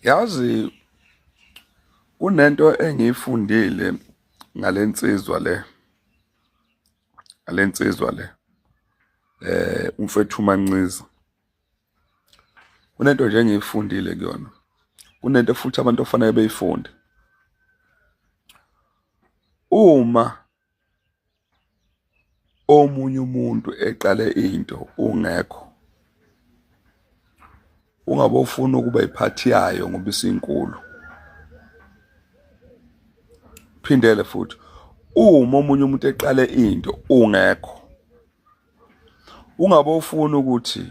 Yazi kunento engiyifundile ngalensizwa le ngalensizwa le eh umfethu Manqiza kunento nje engiyifundile kuyona kunento futhi abantu ofanele beyifunde uma omunye umuntu eqale into ungekho ungabofuna ukuba iphathi yayo ngoba isinkulu phindele futhi uma omunye umuntu eqale into ungekho ungabofuna ukuthi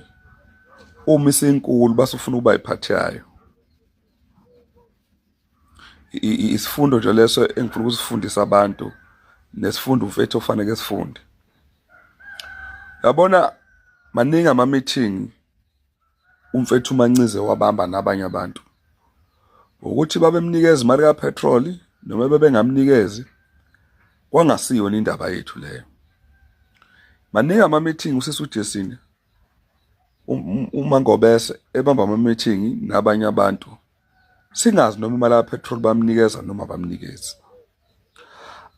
uma isinkulu basufuna ukuba iphathi yayo isifundo nje leso engifuna ukusifundisa abantu nesifundo mfethu ofanele sifunde yabona maningi ama meeting umfethu uMancize wabamba nabanye abantu ukuthi babemnikeza imali ka petrol noma bebengamnikezi kwangasiyo indaba yethu leyo maningi ama meeting usisi uJesini um, um, umangobese ebamba ama meeting nabanye abantu singazi noma imali kapetrol bamnikeza noma bamnikezi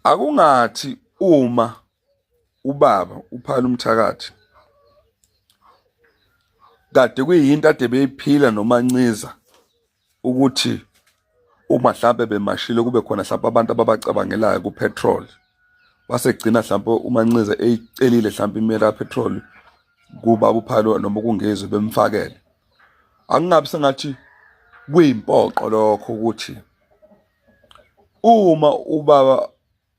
akungathi uma ubaba uphala umthakathi kade kuyinto ade beyiphila nomanciza ukuthi uma mhlampe bemashile kube khona mhlampe abantu ababacabangelayo kupetrol wasegcina mhlampe umanxiza eyicelile mhlampe imela petrol kuba uphalo noma kungezwe bemfakele angingabi sengathi kuyimpoqo lokho ukuthi uma ubaba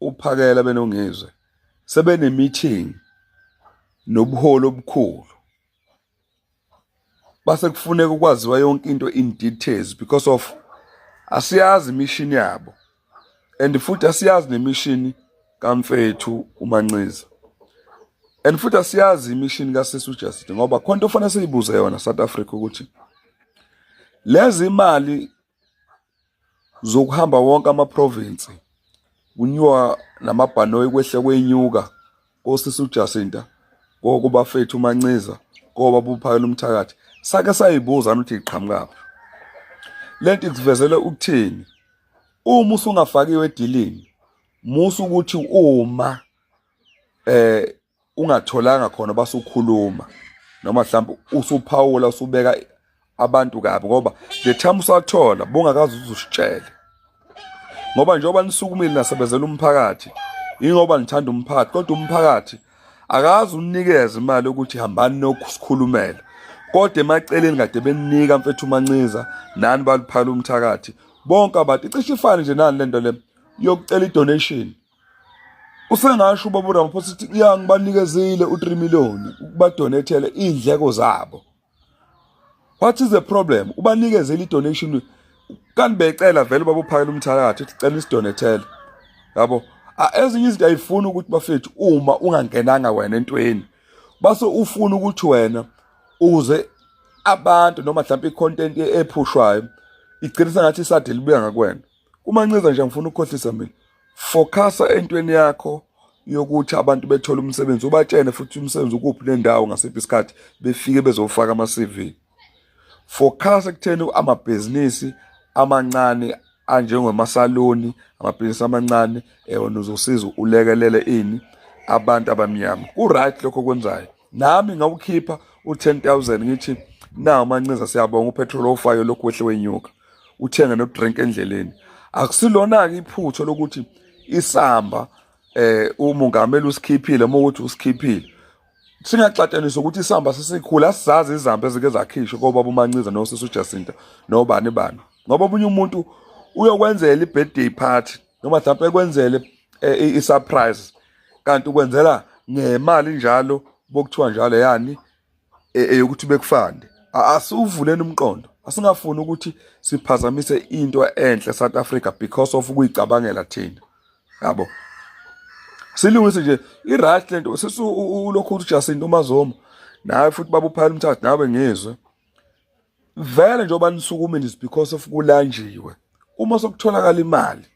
uphakela benongizwe sebene meeting nobuholi obukhulu base kufuneka ukwaziwa yonke into in details because of asiyazi imishini yabo and futhi asiyazi nemishini kamfethu umanxiza and futhi asiyazi imishini kasisi uJustin ngoba khona into ofanele siyibuze yona South Africa ukuthi lezi imali zokuhamba wonke ama province kunyuka namabhanoyi kwehle kwenyuka kosisi uJacinta kokubafethu uManciza koba buphakela umthakathi sake sayibuza ukuthi iqhamukaphi lento ikuvezele ukuthini uma usungafakiwe edilini musa ukuthi uma eh ungatholanga khona basukhuluma noma mhlawumbe usuphawula usubeka abantu kabi ngoba the time usathola bongakazi uzusitshele ngoba njengoba nisukumile nasebenzela umphakathi ingoba nithanda umphakathi kodwa umphakathi akazi unikeze imali ukuthi hambani nokusikhulumela kodwa emaceleni kade beninika mfethu umanciza nani baluphala umthakathi bonke abantu icishe ifane nje nani lento le yokucela idonation usengasho ubaba uRamaphosa ukuthi ya ngibanikezile u3 million ukubadonethele indleko zabo what is the problem ubanikezele idonation kanti becela vele babophakela umthakathi uthi cela isidonethele yabo ezinye izinto ayifuni ukuthi bafethu uma ungangenanga wena entweni base ufuna ukuthi wena uze abantu noma mhlawumbe icontent ephushwayo igcina sengathi isadelibuya ngakwena Kumanciza nje ngifuna ukukhohlisa mina. Focasa entweni yakho yokuthi abantu bethole umsebenzi ubatshene futhi umsebenzi ukuphi nendawo ngasiphi isikhathi befike bezofaka ama CV. Focasa kutheni amabhizinisi amancane anjengomasaloni amabhizinisi amancane ewona uzosiza ulekelele ini abantu abamnyama. Ku right lokho kwenzayo. nami ngawukhipha u-10000 ngithi nawu mancinza siyabonga upetrol ofayo lokhu wehle wenyuka uthenge nodrink endleleni akusilona-ke iphutho lokuthi isamba eh umongameli usikhiphile uma ukuthi usikhiphile singaxatshaniswa ukuthi isamba sesikhulu asizazi izamba ezike zakhishwa kobaba umanciza nosisi ujacinta nobani bani ngoba omunye umuntu uyokwenzela i-birthday party noma mhlawumbe ekwenzele eh, i-surprise kanti ukwenzela ngemali njalo bokuthiwa njalo yani e-, eyokuthi bekufande asuvuleni umqondo asingafuni ukuthi siphazamise into enhle South Africa because of ukuyicabangela thina yabo silungise nje i-right le nto sesulokhu uthi Jacinto uMazoma nawe futhi babuphayela umthathu nawe ngizwe vele njengoba nisukumini is because of kulanjiwe uma sokutholakala imali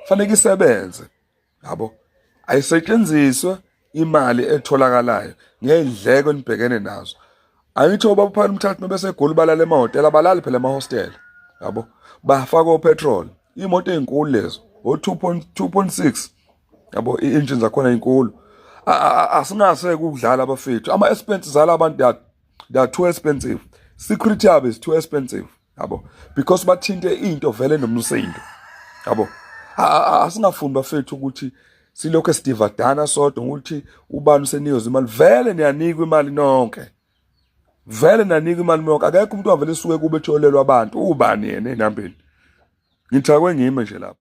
fanele isebenze yabo ayisetshenziswe imali etholakalayo ngeyindleko enibhekene nazo angithi ubaba phana umthathu mebese egoli balala emahhotela abalali phela emahostela yabo bafaka opetrol imoto ezinkulu lezo o 2.2.6 yabo i-engine zakhona inkulu asinase ukudlala abafethu ama expenses ala abantu they are too expensive secret yabo is too expensive yabo because bathinte into vele nomsindo yabo asingafuni bafethu ukuthi silokho sidivadana sodwa ukuthi ubani useniyoza imali vele niyanikwa imali nonke vele nanikwa imali nonke akekho umuntu wavele suke kube etholelwa abantu ubani yena enambeni ngithakwe ngime nje lapho